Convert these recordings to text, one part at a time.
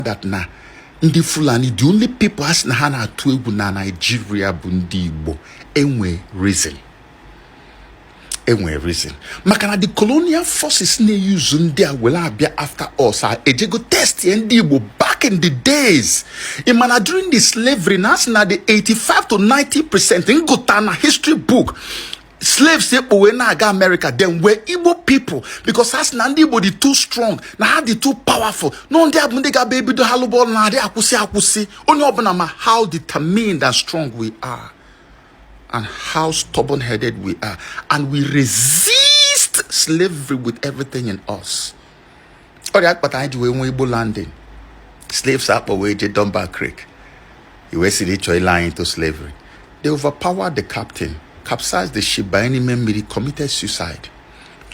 that na ndị fulani the only people a sị na ha na-atụ egwu na naijiria bụ ndị igbo enwe reason enwe reason maka na the colonial forces na-euse ndị a were abịa after us a ejego testie ndị igbo back in the days ị ma na during the slavery na a sị na the 85 to 90 percent m gụta na history book slaves e kpo wee na-aga amerịka then were igbo people because ha sị na ndị igbo dị too strong na ha dị too powerful na ọ ndị a bụ ndị ga-abịa ebido ha lụba ọlụ na adị akwụsị akwụsị onye ọbụla ma how determined and strong we are and how stubborn headed we are and we resist slavery with everything in us ọ ya kpata anyị ji wee nwee igbo landing slaves a kpọ wee jee Dunbar Creek ị wee sị na ị chọ ile ha into slavery they overpowered the captain capsized the ship baa n'ime mmiri committed suicide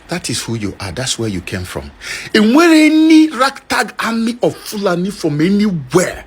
that is who you are that's where you came from enwerọ any ragtag army of Fulani from anywhere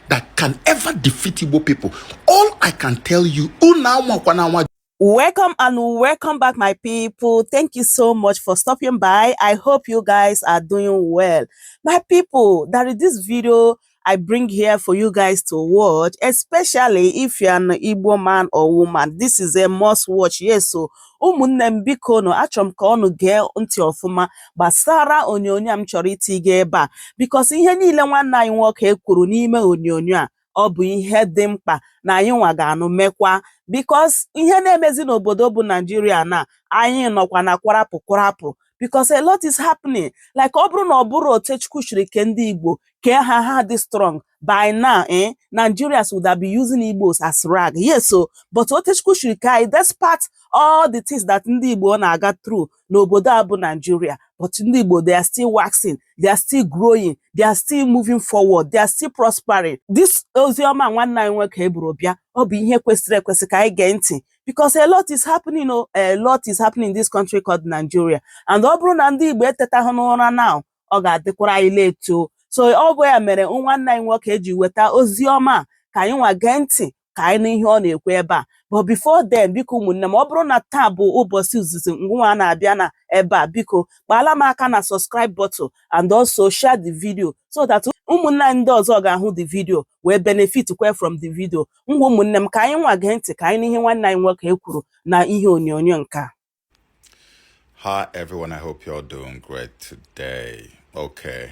that can ever defeat Igbo people all I can tell you unu anwakwana anwa Welcome and welcome back, my people. Thank you so much for stopping by. I hope you guys are doing well. My people, there is this video I bring here for you guys to watch, especially if you're an Igbo man or woman. This is a must watch. Yes, so ụmụnne m biko nụ achọrọ m ka ọnụ gee ntị ọfụma gbasara onyonyo a m chọrọ itinye ebe a because ihe niile nwanne anyị nwoke a kwuru n'ime onyonyo a ọ bụ ihe dị mkpa na anyị nwa ga-anụ mekwa because ihe na-emezi n'obodo bụ naijiria na anyị nọkwa na kwarapụ kwarapụ because a lot is happening like ọ bụrụ na ọ bụrọ otu chukwu shiri kee ndị igbo kee ha ha dị strong by now eh, nigerians would have been using igbos as rag yes so but otu chukwu shiri kee anyị despite all the things that ndị igbo na-aga through n'obodo a bụ Nigeria but ndị Igbo they are still waxing they are still growing they are still moving forward they are still prospering this ozi ọma nwanne anyị nwoke a buru bịa ọ bụ ihe kwesịrị ekwesị ka anyị gee ntị because a lot is happening oh, a lot is happening in this country called Nigeria and ọ bụrụ na ndị Igbo etetaghị n'ụra now ọ ga-adịkwara anyị late so ọ bụ ya mere nwanne anyị nwoke a ji weta ozi ọma ka anyị nwa gee ntị ka anyị nụ ihe ọ na-ekwu ebe a but before then biko ụmụnne m ọ bụrụ na taa bụ ụbọchị izizi gị nwa na-abịa na ebe a biko kpaala m aka na subscribe button and also share the video so that ụmụnne anyị ndị ọzọ ga-ahụ the video wee benefitkwa from the video ngwa ụmụnne m ka anyị nwa gee ntị ka anyị nụ ihe nwanne anyị nwoke a kwuru na ihe onyonyo nke a Hi everyone, I hope you're doing great today. Okay,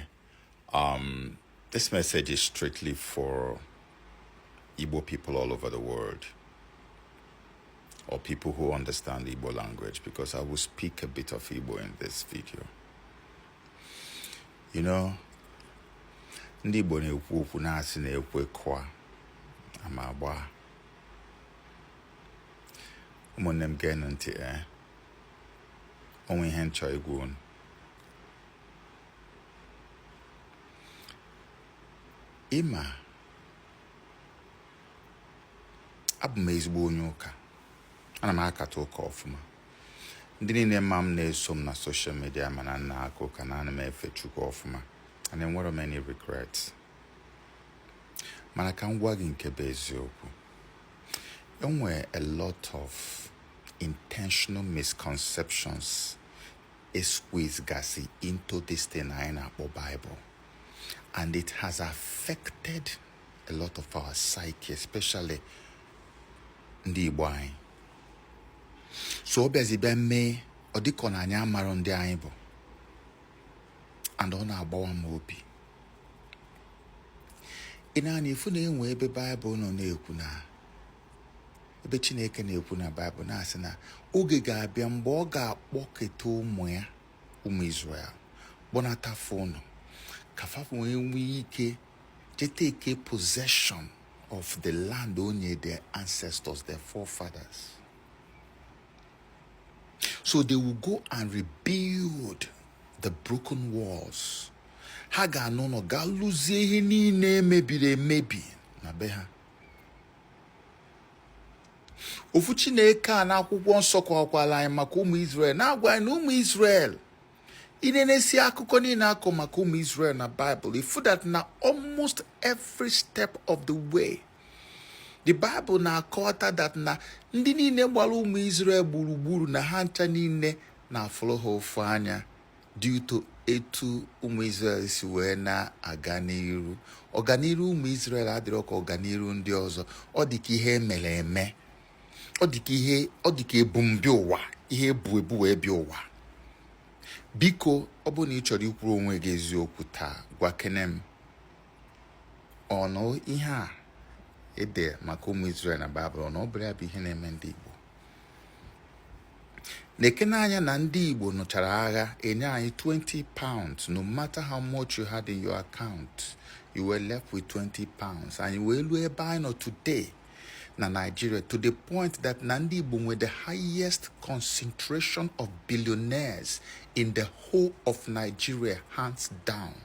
um, this message is strictly for Igbo people all over the world or people who understand Igbo language because I will speak a bit of Igbo in this video. You know, ndị Igbo na-ekwu okwu na-asị na ekwe kụa ama agbaa ụmụnne m geenụ ntị ee eh? o nwe ihe m chọ ịgwa unu ị ma abụ m ezigbo onye ụka ana m akata ụka ọfụma ndị niile ma m na-eso m na social media ma na m na-aka ụka na ana m efe chukwu ọfụma and enwerọ m any regrets mana ka m gwa gị nke bụ eziokwu e nwere a lot of intentional misconceptions e squeeze gasị into this thing anyị na-akpọ Bible and it has affected a lot of our psyche especially ndị Igbo anyị so ọ bịazi bịa mee ọ dị ka na anyị amarọ ndị anyị bụ and ọ na-agbawa m obi ị nee anya ị fụ na e nwe ebe Bible nọ na-ekwu na ebe chineke na-ekwu na Bible na-asị na oge ga-abịa mgbe ọ ga-akpọketa ụmụ ya ụmụ Israel kpọnata fa ụnọ ka fa wee nwee ike je take possession of the land o nye their ancestors their forefathers so they will go and rebuild the broken walls ha ga-ana ụnọ gaa lụzie ihe niile e mebiri emebi na be ha ofu chineke a n'akwụkwọ nsọ kọwakwara anyị maka ụmụ Israel na-agwa anyị na ụmụ Israel i nenesie akụkọ niile a kọ maka ụmụ Israel na Bible ị fụ that na almost every step of the way the bible na-akọta that na ndị niile gbara ụmụ Israel gburugburu na ha ncha niile na-afụrụ ha ụfụ anya due to etu ụmụ Israel si wee na-aga n'iru ọganiru ụmụ Israel adịrọ ka ọganiru ndị ọzọ ọ dị ka ihe e mere eme ọ dị ka ebumbịa ụwa ihe e bu ebu wee bịa ụwa biko ọ bụrụ na ị chọrọ ikwuru onwe gị eziokwu taa gwakene m ọnụ ihe a ede maka ụmụ Israel na Baịbụl na ọ bụrọ ya bụ ihe na-eme ndị Igbo nekene anya na ndị Igbo nụchara agha e nye anyị 20 pounds no matter how much you had in your account you were left with 20 pounds anyị wee luo ebe anyị nọ today na Nigeria to the point that na ndị Igbo nwere the highest concentration of billionaires in the whole of Nigeria hands down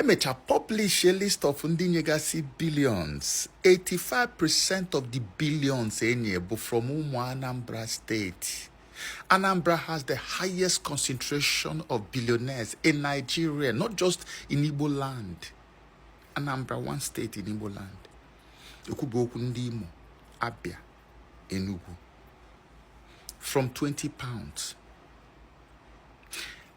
e mecha publish a list of ndị nyegasị billions 85 percent of the billions e nye bụ from ụmụ Anambra State Anambra has the highest concentration of billionaires in Nigeria not just in Igbo land Anambra one state in Igbo land ekwuba okwu ndị Imo Abia Enugu from 20 pounds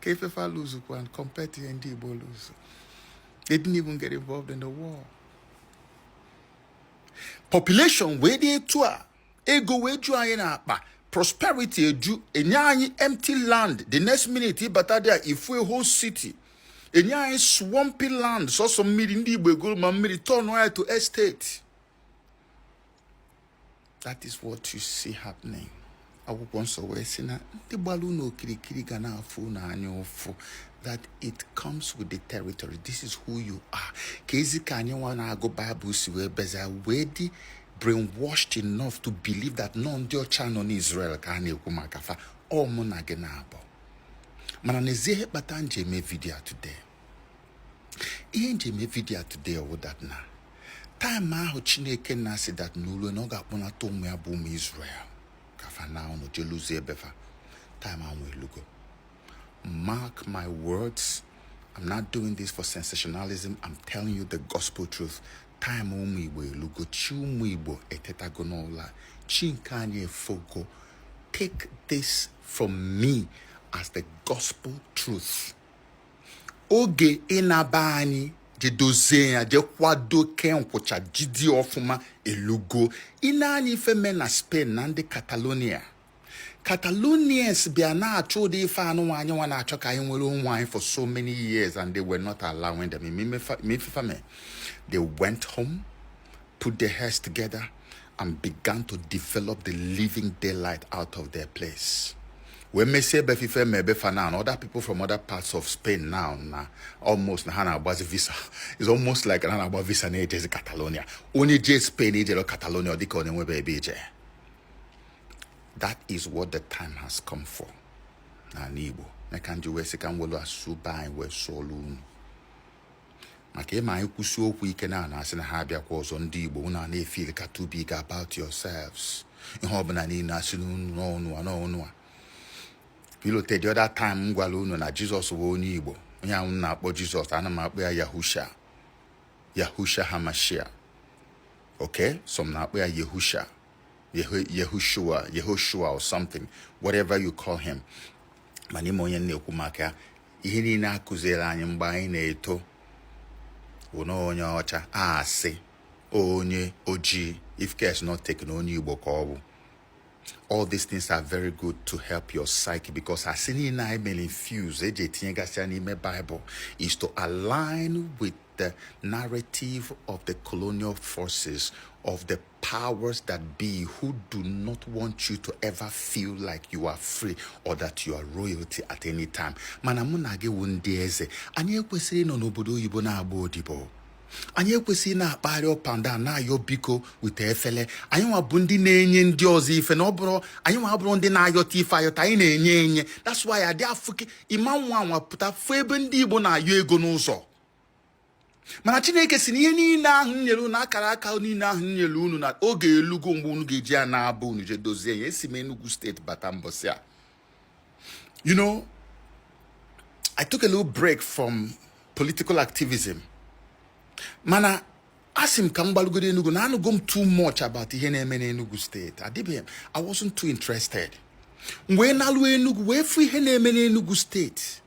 kee ife fa luzukwa compared to ihe ndị Igbo luzu they didn't even get involved in the war population wee dị etu a ego wee ju anyị n'akpa prosperity eju e nye anyị empty land the next minute ị bata there ị fụ a whole city e nye anyị swampy land sọsọ mmiri ndị Igbo egolu ma mmiri turn ya to estate that is what you see happening akwụkwọ nsọ wee sị na ndị gbara unu okirikiri ga na-afụ unu anya ụfụ that it comes with the territory this is who you are keezi ka anyị nwa na-agụ Baịbụl si wee bịazia wee dị brainwashed enough to believe that na ọ ndị ọcha nọ n'Israel ka a na-ekwu maka fa ọ mụ na gị naabọ mana n'ezie ihe kpata m ji eme video today ihe m ji eme video today ọ wụ that na time ahụ Chineke na-asị that na o luo na ọ ga-akpọnata ụmụ ya bụ ụmụ Israel ka fa naa ụnọ je lụzie be fa time ahụ elugo mark my words I'm not doing this for sensationalism I'm telling you the gospel truth time ụmụ Igbo elugo chi ụmụ Igbo etetago n'ụla chi nke anyị efogo take this from me as the gospel truth. oge ịna be anyị je dozie ya je kwado kee nkwụcha jide ọfụma elugo ị nee anya ife me na Spain na ndị Catalonia Catalonians bịa na-achọ ụdị ife anụnwa anyị nwa na-achọ ka anyị nwere onwe anyị for so many years and they were not allowing them ma ife fa me they went home put their heads together and began to develop the living daylight out of their place. wee mesie be fa ife mebe fa na and other people from other parts of Spain now na almost na ha na-agbazi visa it's almost like ha na-agba visa na-ejezi Catalonia onye jee Spain i jerọ Catalonia dịka onye nwebe ebe i je that is what the time has come for n'ala Igbo nya ka m ji wee sị ka m welu asụsụ be anyị wee sụọlụ unu maka ịma anyị kwusie okwu ike na a na-asị na ha abịakwa ọzọ ndị Igbo unu na-efil ka too big about yourselves ihe ọbụla niile asị n'ọnụ a n'ọnụ a pilote the other time m gwara unu na Jizọs bụ onye Igbo onye ahụ a na-akpọ Jizọs ana m akpọ ya Yahusha Yahusha Hamashia okay some na-akpọ ya Yehusha Yehoshua or something whatever you call him mana ịma onye m na-ekwu maka ya ihe niile a kụziere anyị mgbe anyị na-eto bụ na ọ onye ọcha asị onye ojii if care is not taken onye igbo ka ọ bụ all these things are very good to help your psyche because asị niile e mere infuse e je tinyegasịa n'ime Bible is to align with the narrative of the colonial forces of the powers that be who do not want you to ever feel like you are free or that you are royalty at any time mana mụ na gị wụ ndị eze anyị ekwesịghị ịnọ n'obodo oyibo na-agba odibo anyị ekwesịghị na-akpagharị up and down na-ayọ biko with efele anyị nwa bụ ndị na-enye ndị ọzọ ife na ọ bụrọ anyị nwa bụrụ ndị na-ayọta ife ayọta anyị na-enye enye that's why adị afụke ị ma ngwa ngwa pụta fụ ebe ndị Igbo na-ayọ ego n'ụzọ mana chineke sị na ihe niile ahụ nyere unu akara aka niile ahụ nyere unu na oge elugo mgbe unu ga-eji ya naa be unu je dozie ya esi m Enugu steeti bata mbọsị a you know I took a little break from political activism mana asị m ka m gbalugodu Enugu na anụgo m too much about ihe na-eme n'Enugu steeti adịbeghị m I wasn't too interested wee naluo Enugu wee fụ ihe na-eme n'Enugu steeti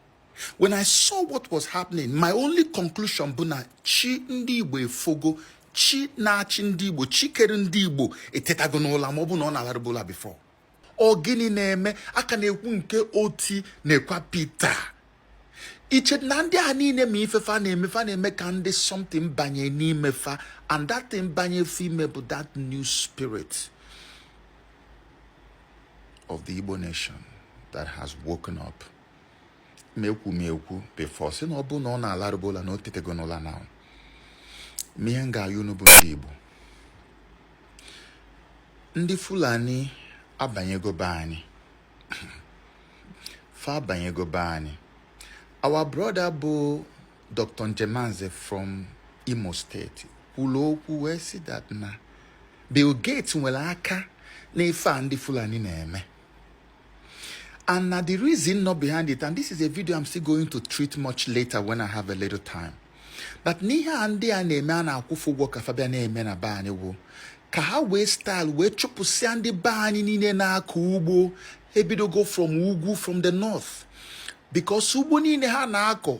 when i saw what was happening my only conclusion bụ na chi ndị igbo efogo chi na-achị ndị igbo chi kere ndị igbo etetago n'ụla ma ọ bụ na ọ na-alarụbu ụla before ọ gịnị na-eme a ka na-ekwu nke Otti nekwa Peter i che na ndị a niile ma ife fa na-eme fa na-eme ka ndị something banye n'ime fa and that thing banye fa ime bụ that new spirit of the Igbo nation that has woken up. m ekwu m ekwu before sị na ọ bụ na ọ na-alarụbu ụla na o tetego n'ụla now ma ihe m ga-ayọ unu bụ ndị Igbo ndị Fulani abanyego be anyị fa abanyego be anyị our brother bụ Dr. Njemanze from Imo steeti kwuru okwu wee sị that na Bill Gates nwere aka n'ife a ndị Fulani na-eme And na the reason nọ behind it, and this is a video I'm still going to treat much later when I have a little time. That na ihe a ndị a na-eme a na-akwụ fa ụgwọ ka fa bịa na-eme na be anyị wụ ka ha wee style wee chụpụsịa ndị be anyị niile na-akọ ugbo ha ebidogo from ugwu from the north because ugbo niile ha na-akọ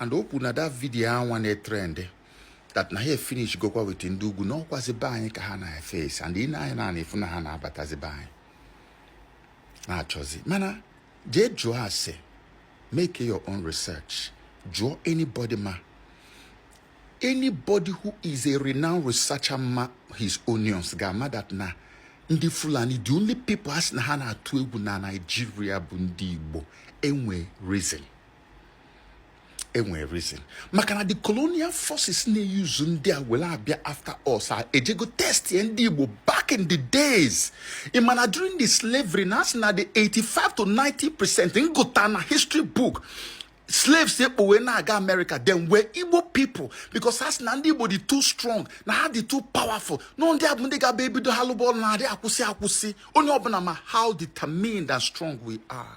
and o kwuru na that video anwa na-etrend that na ha finish gokwa with ndị ugwu na ọkwazi be anyị ka ha na-eface and ị na-anya na-afụ na ha na-abatazi be anyị na-achọzi mana jee jụọ ase make your own research jụọ anybody ma anybody who is a renowned researcher ma his onions ga-ama that na ndị fulani the only people a sị na ha na-atụ egwu na Nigeria bụ ndị igbo enwe reason enwere reason maka na the colonial forces na-euse ndị a were abịa after us ejego testia ndị Igbo back in the days ị ma na during the slavery na a sị na the 85 to 90 percent m gụta na history book slaves e kpo wee na-aga America then were Igbo people because ha sị na ndị Igbo dị too strong na ha dị too powerful na ndị a bụ ndị ga-abịa ebido ha lụba ọlụ na-adị akwụsị akwụsị onye ọbụna ma how determined and strong we are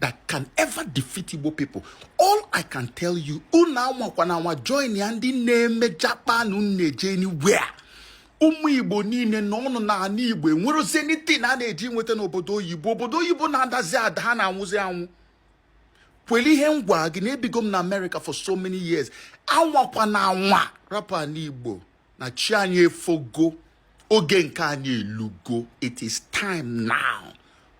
that can ever defeat Igbo people. All I can tell you, unu anwakwana anwa joinia ndị na-eme japa na-eje anywhere. ụmụ igbo niile nọọnụ na ana igbo enwerozi anything a na-eji nweta n'obodo oyibo obodo oyibo na-adazi ada ha na-anwụzi anwụ kwelu ihe m gwa gị na ebigo m na America for so many years anwakwana anwa rapụ ana igbo na chi anyị efogo oge nke anyị elugo it is time now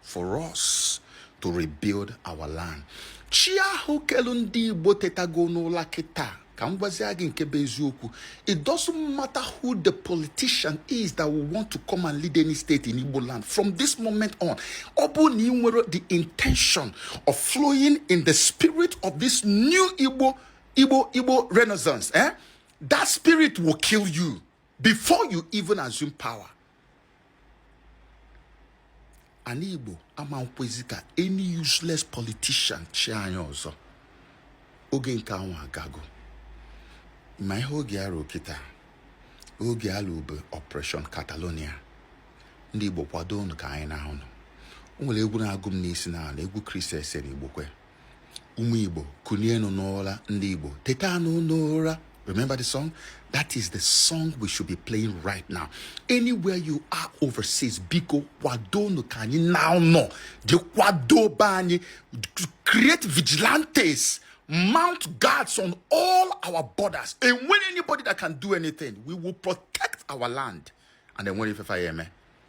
for us to rebuild our land chi ahụ kelu ndị igbo tetago n'ụla kịta ka m gwazie gị nke bụ eziokwu it doesn't matter who the politician is that will want to come and lead any state in Igbo land from this moment on ọ bụrụ na i nwero the intention of flowing in the spirit of this new Igbo Igbo Igbo renaissance eh? That spirit will kill you before you even assume power. Ana Igbo amankwezi ka any useless politician chịa anyị ọzọ. Oge nke anwa agago. Ma ihe oge ara kịta, oge alụbe Operation Catalonia. Ndị Igbo kwado unu ka anyị naa ụnọ. O nwere egwu na-agụ m n'isi na ala egwu Christy Essien Igbokwe. ụmụ igbo kunienu n'ụra ndị igbo tetanụ n'ụra remember the song that is the song we should be playing right now anywhere you are overseas biko kwadonu ka anyị naa ụnọ jee kwado be anyị create vigilantes mount guards on all our borders enwero anybody that can do anything we will protect our land and then when if I am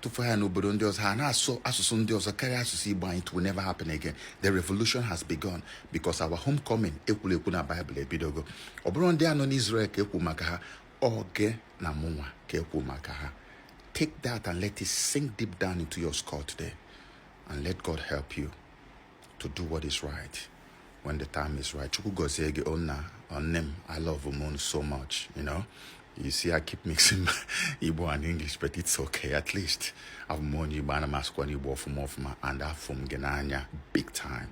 tufuo ha n'obodo ndị ọzọ ha na-asụ asụsụ ndị ọzọ karịa asụsụ Igbo anyị it will never happen again the revolution has begun because our homecoming e kwuru ekwu na Bible ebidogo ọ bụrọ ndị a nọ n'Israel ka e kwu maka ha ọ gị na mụnwa ka e kwu maka ha take that and let it sink deep down into your skull today and let God help you to do what is right when the time is right. Chukwu gozie gị o nna oh, nne m a love m ụnụ so much you know you see I keep mixing Igbo and English but it's okay at least abụ m onye Igbo ana m asụkwanụ Igbo ọfụma ọfụma and afụ m gị n'anya big time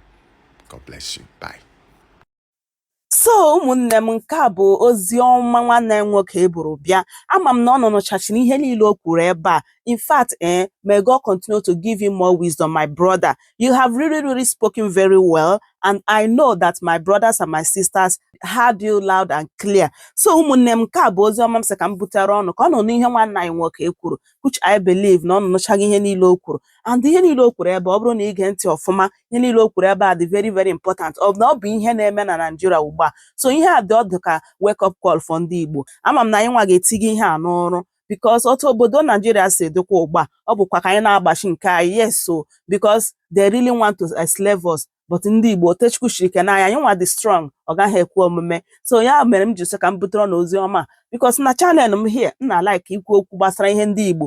God bless you bye So ụmụnne m nke a bụ ozi ọma nwanne anyị nwoke a buru bịa ama m na ụnụ nụchachiri ihe niile o kwuru ebe a in fact eh, may God continue to give you more wisdom my brother you have really really spoken very well and I know that my brothers and my sisters heard you loud and clear so ụmụnne m nke a bụ ozi ọma m sị ka m butere ụnụ ka ụnụ nụ ihe nwanne anyị nwoke a kwuru which I believe na ụnụ nụchachiri ihe niile o kwuru and ihe niile o kwuru ebe a ọ bụrụ na i gee ntị ọfụma ihe niile o kwuru ebe a dị very very important na ọ bụ ihe na-eme na Naịjirịa ugbu a so ihe a dị ọ dị ka wake up call for ndị Igbo ama m na anyị nwa ga-etinye ihe a n'ọrụ because otu obodo Naijiria si dịkwa ugbu a ọ bụkwa ka anyị na-agbachi nke anyị yes so because they really want to enslave us but ndị Igbo otu Chukwu shiri kee anyị anyị nwa dị strong ọ gaghị ekwe omume so ya mere m ji sị ka m butere ụnụ ozi ọma because na channel m here m na-alike ikwu okwu gbasara ihe ndị Igbo